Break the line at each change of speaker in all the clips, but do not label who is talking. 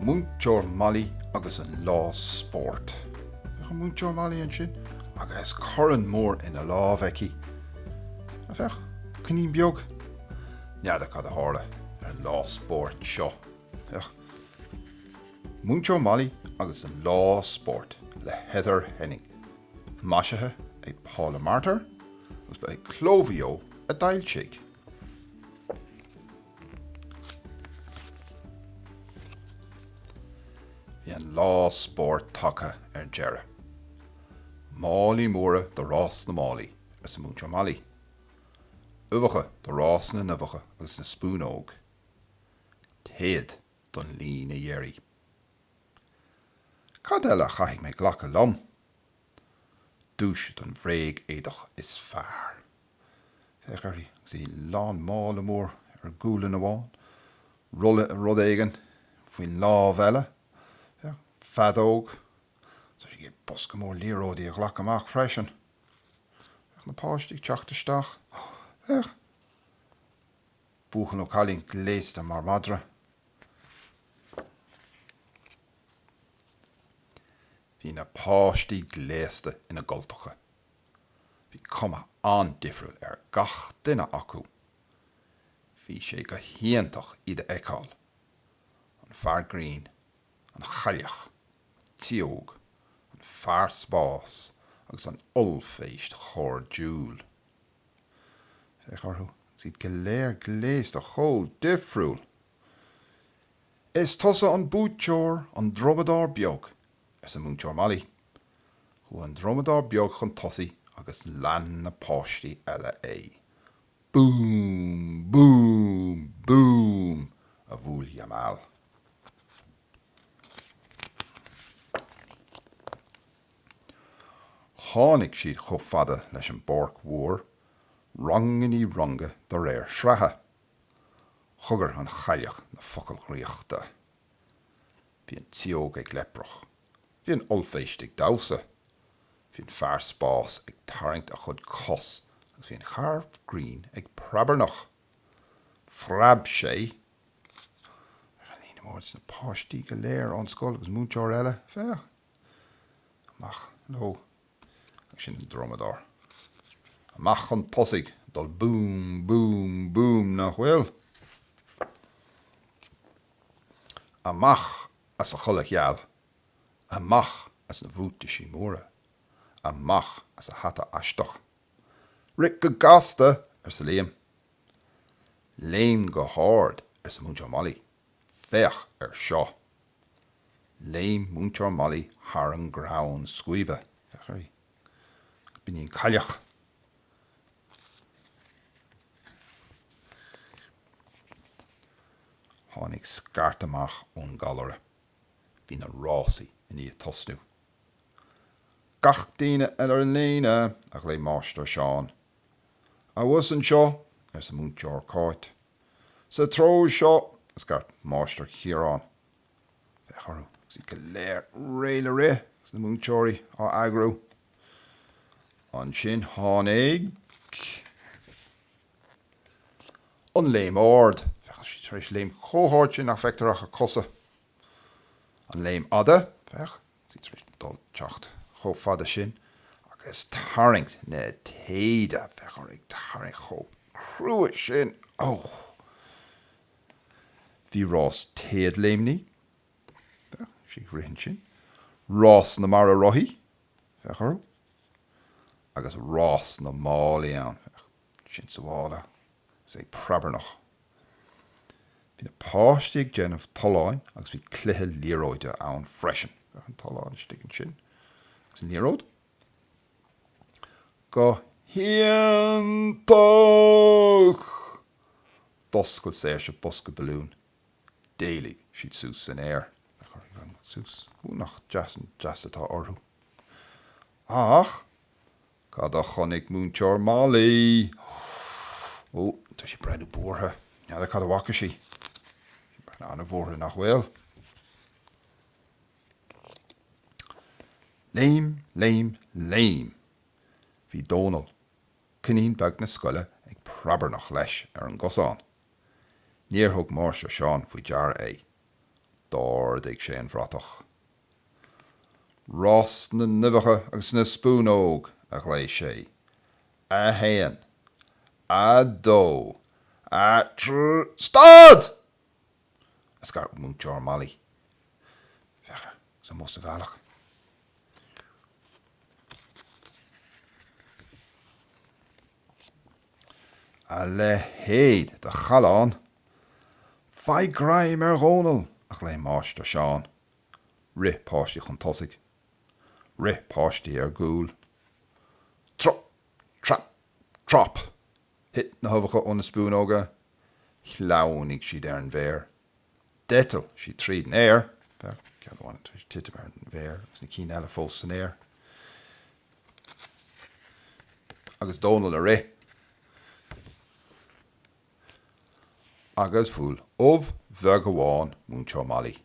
Múinteoir Molly agus an lá spóirt. Féach an Múinteoir Molly ansin agus corn mór ina lámh aici. Ó féach! Coinín beag? N'fheadar cad a tharla ar an lá spóirt seo. Féach. Múinteoir Molly agus an lá spóirt le Heather Henning. Maisithe ag Paula Martyr agus ba é Cló Mhaigh Eo a d'fhoilsigh. Bhí an lá spóirt tagtha ar deireadh. Málaí móra do rás na málaí, arsa Múinteoir Molly. Uibheacha do rás na n-uibheacha agus na spúnóga. Téad don líne dheiridh. Cad eile a chaithfidh mé a ghlacadh liom? Duais don bhréag éadach is fearr. Féach uirthi agus í lán, mála mór ar gualainn amháin, rolla rud éigin faoin lámh eile, féach, feadóg, is tá sí ag bosca mór liathróidí a ghlacadh amach freisin. Féach na páistí ag teacht isteach. Féach! Buachaill nó cailín gléasta mar mhadra. Bhí na páistí gléasta ina gcultacha. Bhí cuma an-difriúil ar gach duine acu. Bhí sé go hiontach iad a fheiceáil, an fear grinn, an chailleach, an tsióg, an fear spáis agus an ollphéist chairdiúil. Féach orthu agus iad go léir gléasta chomh difriúil! Is tusa an buaiteoir, an Drumadóir Beag! arsa Múinteoir Molly. Chuaigh an Drumadóir Beag chun tosaigh agus lean na páistí eile é. Búm! Búm! Búm! a bhuail Jamal. Tháinig siad chomh fada leis an bpáirc mhór, rang i ndiaidh ranga de réir sraithe. Chogair an chailleach na focail dhraíochta. Bhí an tsióg ag léimneach. Bhí an ollphéist ag damhsa. Bhí an fear spáis ag tarraingt a chuid cos agus bhí an fear grinn ag preabarnach. Phreab sé. Féach ar an líne mór agus na páistí go léir ón scoil agus múinteoir eile. Féach! amach nó agus sin an drumadóir amach chun tosaigh dul boom boom boom nach bhfuil? Amach as a chulaith gheal, amach as na bhuataisí móra, amach as a hata aisteach. Rith go gasta! arsa Liam. Léim go hard! arsa Múinteoir Molly. Féach air seo! Léim Múinteoir Molly thar an gcrann scuaibe. Féach uirthi. Agus b'iníon cailleach. Tháinig scairt amach ón gcallaire. Bhí na rásaí i ndiaidh tosnú. Gach duine eile ar an líne! a ghlaoigh Máistir Seán. Abhus anseo! arsa Múinteoir Cáit. Sa treo seo, a scairt Máistir Ciarán. Féach orthu, agus iad go léir réidh le rith, agus na múinteoirí á eagrú. Ansin tháinig an léim ard. Féach, siad tar éis léim chomh hard sin nach bhfeictear ach a cosa. An léim fhada, féach, sí tar éis dó teacht chomh fada sin agus tarraingt na téide, féach orthu ag tarraingt chomh cruaidh sin, och! Bhí rás téadléimní, féach í ag rith ansin, rás na mbaraí rotha, féach orthu, agus rás na málaí ann, féach. Ansin sa mhála, is ag preabarnach. Bhí na páistí ag déanamh tolláin agus bhí cluiche liathróide ann freisin. Féach an tollán istigh ansin agus an liathróid go hiontach! D'oscail Saoirse bosca balún. D'éalaigh siad suas san aer. Féach orthu leanúint suas. Ó, nach deas an deas atá orthu. Ach. Cad a chonaic Múinteoir Molly? Ó, tá sí ag breathnú buartha. N'fheadar cad a bhfaca sí. Tá sí ag breathnú an-bhuartha, nach bhfuil? Léim, léim, léim! Bhí Dónall, coinín beag na scoile ag preabarnach leis ar an gcosán. Níor thug Máistir Seán faoi deara é. D'ardaigh sé an bhratach. Rás na n-uibheacha agus na spúnóg, a ghlaoigh sé. A haon. A dó. A tr. Stad! a scairt Múinteoir Molly. Féach air, is an bhó sa bhealach. A leithéid de challán! Faigh greim ar Dhónall! a ghlaoigh Máistir Seán. Rith páistí chun tosaigh. Rith páistí ar gcúl. Trup! Trap! Trop! Thit na huibheacha ó na spúnóga. Shleamhnaigh siad ar an bhféar. D'eitil siad tríd an aer. Bheadh ceann amháin tar éis titim ar an bhféar agus na cinn eile fós san aer. Agus Dónall ag rith. Agus bhuail ubh bheag amháin múinteoir Molly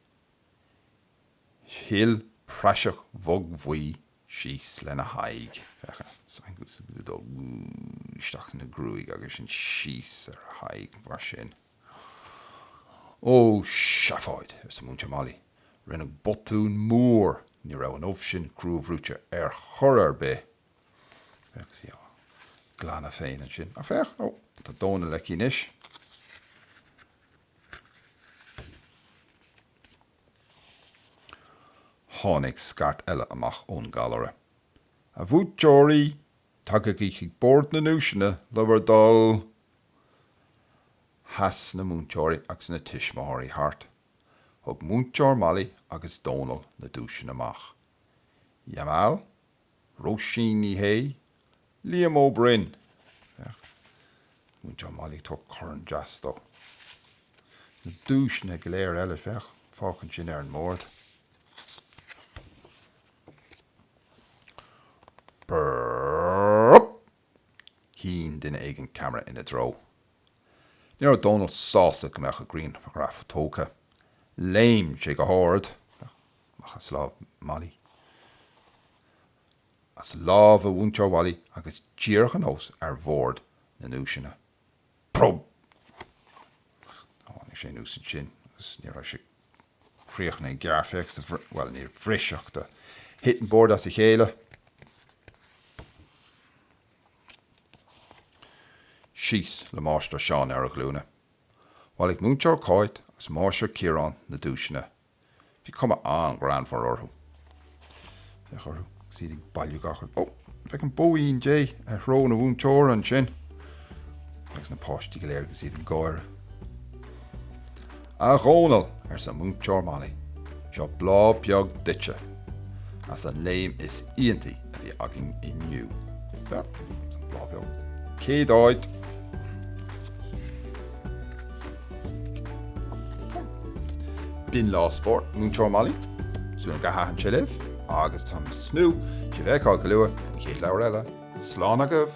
Shil praiseach bhog bhuí síos lena haghaidh. Féach an saghas go bhfuil sí ag dul isteach ina gruaig agus sin síos ar a haghaidh mar sin. Ó, seafóid! arsa Múinteoir Molly. Rinneadh botún mór. Ní raibh an ubh sin cruabhrúite ar chor ar bith. Féach agus í á glanadh féin ansin. Ach féach, ó, tá Dónall aici anois. Tháinig scairt eile amach ón gcallaire. A bhuaiteoirí, tagaigí chuig bord na nduaiseanna le bhur dtoil! Sheas na múinteoirí agus na tuismitheoirí thart. Thug Múinteoir Molly agus Dónall na duaiseanna amach. Jamal? Róisín Ní Shé, Liam Ó Broin. Féach, Múinteoir Molly, ag tabhairt corn deas dó. Na duaiseanna go léir eile, féach, féach ansin ar an mbord. Burp! Shín duine éigin ceamara ina dtreo. Ní raibh Dónall sásta go mbeadh a ghrianghraf tógtha. Léim sé go hard amach as lámh Molly, as lámh Mhúinteoir Mholly agus díreach anuas ar bhord na nduaiseanna. Probe! Tháinig sé anuas ansin agus ní raibh sé críochnaithe mar féach do bhris, bhuel níor bhris ach do thit an bord as a chéile. Síos le Máistir Seán ar a ghlúine. Bhailigh Múinteoir Cáit agus Máistir Ciarán na duaiseanna Bhí cuma an-ghreannmhar orthu. Féach orthu agus iad ag bailiú gach rud. Ó! Féach an bhóín Dé ar shrón an mhúinteora ansin! Agus na páistí go léir agus iad ag gáire. A Dhónaill! arsa Múinteoir Molly. Seo bláth beag duitse as an léim is iontaí a bhí againn inniu. Seo, an bláth beag. Céad áit! B'in lá spóirt Múinteoir Molly, súil agam gur thaitin sé libh agus tá muid ag tnúth le sibh a fheiceáil go luath don chéad leabhar eile. Slán agaibh!